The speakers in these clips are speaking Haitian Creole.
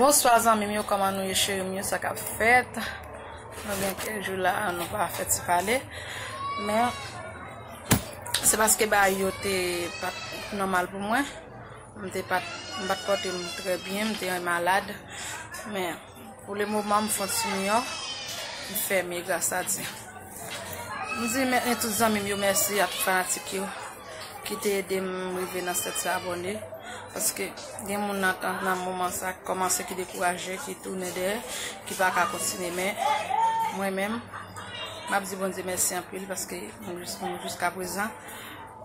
Bonswa zanmim yo koman nou ye cherim yo sa kap fèt Nou gen kèk jou la an nou pa fèt ti pale Men Se paske ba yo te pat nòmal pou mwen M te pat m pat pòte m trè byen m te malad Men Pou le moman m fon ti miyon ki fèmye gras a Dye. M di mèt ni tout zanmi m yo mèsi a tout fanatik yo ki te ede m rive nan 700 abòne. Paske gen moun nan tan nan moman sa ki kòmanse ki dekouraje, ki tounen dèyè, ki pa ka kontinye. Men mwen menm m ap di Bondye mèsi anpil paske m jiska prezan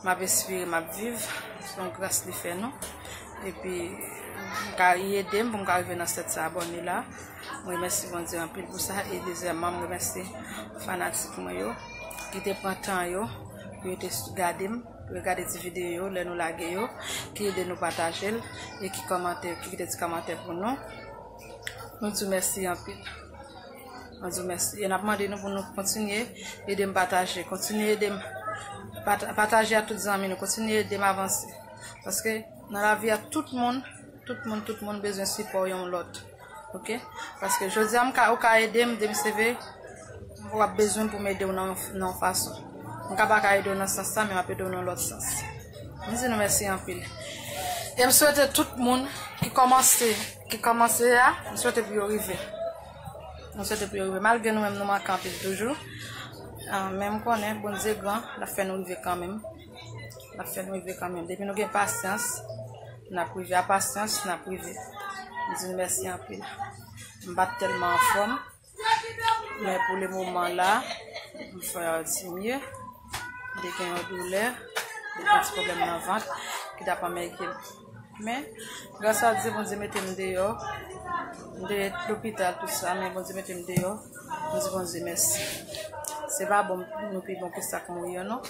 m ap respire, m ap viv. Se yon gras li fè nou. Epi ka edem pou m ka rive nan 700 abone la. M remèsi Bondye anpil pou sa. E dezyèman m remèsi fanatik mwen yo ki te pran tan yo pou yo te gade m, pou yo gade ti videyo yo lè nou lage yo, ki ede nou pataje l e ki kòmante, ki kite ti kòmantè pou nou. Nou di w mèsi anpil. Nou di w mèsi. E n ap mande nou pou nou kontinye ede m pataje. Kontinye ede m pataje a tout zanmi nou. Kontinye ede m avanse. Paske nan lavi a tout moun, tout moun, tout moun bezwen sipò yon lòt. Ok? Paske jodi a m ka, ou ka ede m, dem seve, ou ap bezwen pou m ede w nan yon, nan yon fason. M ka pa ka ede w nan sans sa, men m ap ede w nan lòt sans. M di nou mèsi anpil. E m swete tout moun ki kòmanse, ki kòmanse a, m swete pou yo rive. M swete pou yo rive. Malgre nou menm nou manke anpil toujou, men m konnen Bondye gran, l ap fè nou rive kanmenm. N ap fè nou rive kanmenm. Depi nou gen pasyans, n ap rive. A pasyans, n ap rive. M di nou mèsi anpil. M pa t tèlman anfòm. Men pou le moman la, m fè yon ti mye. M te gen yon doulè. M te gen yon ti pwoblèm nan vant. Ki t ap anmègde m. Men, gras a Dye Bondye mete m deyò, m te lopital tout sa men Bondye mete m deyò, m di Bondye mèsi. Se pa bon nou pi bon ke sak mouri yo non.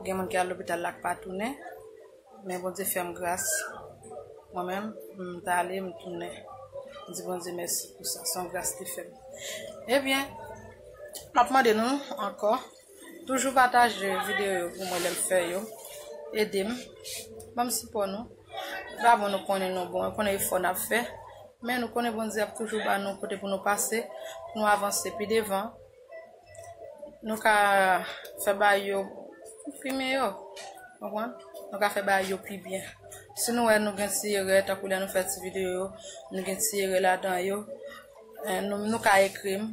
Gen moun ki al lopital la k pa tounen, men Bondye fè m gras. Mwen menm, m ta ale m tounen. M di Bondye mèsi pou sa, son gras li fè m. Ebyen, m ap mande nou ankò Toujou pataje videyo yo pou mwen lèm fè yo. Edem. Banm sipò nou. Epa bon nou konnen nou bon. Nou konnen efò nap fè. Men nou konnen Bondye ap toujou ba nou kote pou nou pase. Pou nou avanse pi devan. Nou ka fè ba yo. Pou fime yo. Konpran? Nou ka fè ba yo pi byen. Si nou wè nou gen ti erè. Tankou lè nou fè ti videyo yo. Nou gen ti erè ladan yo. Nou ka ekrim.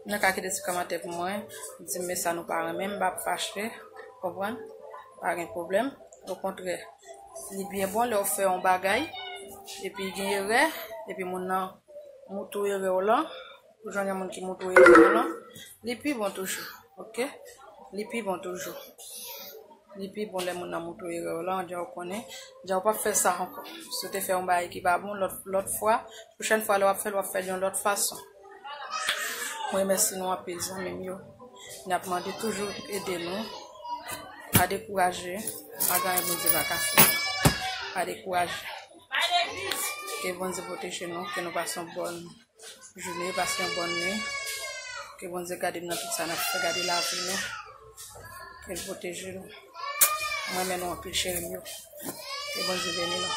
Nou ka kite ti kòmantè pou mwen, di m sa nou pa renmen, m pa p fache, ou konprann, pa gen pwoblèm. Okontrè, li byen bon lè ou fè yon bagay, epi gen erè, epi moun nan moutre ou erè ou lan, ou jwenn yon moun ki moutre ou erè ou lan, li pi bon toujou, ok, li pi bon toujou. Li pi bon lè moun nan moutre ou erè ou lan, jan ou konnen, jan ou pa p fè sa ankò. Si ou te fè yon bagay ki pa bon lòt fwa, pwochèn fwa lè w ap fè l, w ap fè l yon lòt fason. Mwen remèsi nou anpil zanmim yo. Nap mande toujou ede nou. Pa dekouraje. Pa gen anyen Bondye pa ka fè. Pa dekouraje. Ke Bondye pwoteje nou. Ke nou pase yon bòn jounen. Pase yon bòn nwi. Ke Bondye gade nou nan tout sa nap fè. Gade lavi nou. Kel pwoteje nou. Mwen renmen nou anpil cherim yo. Ke Bondye beni nou.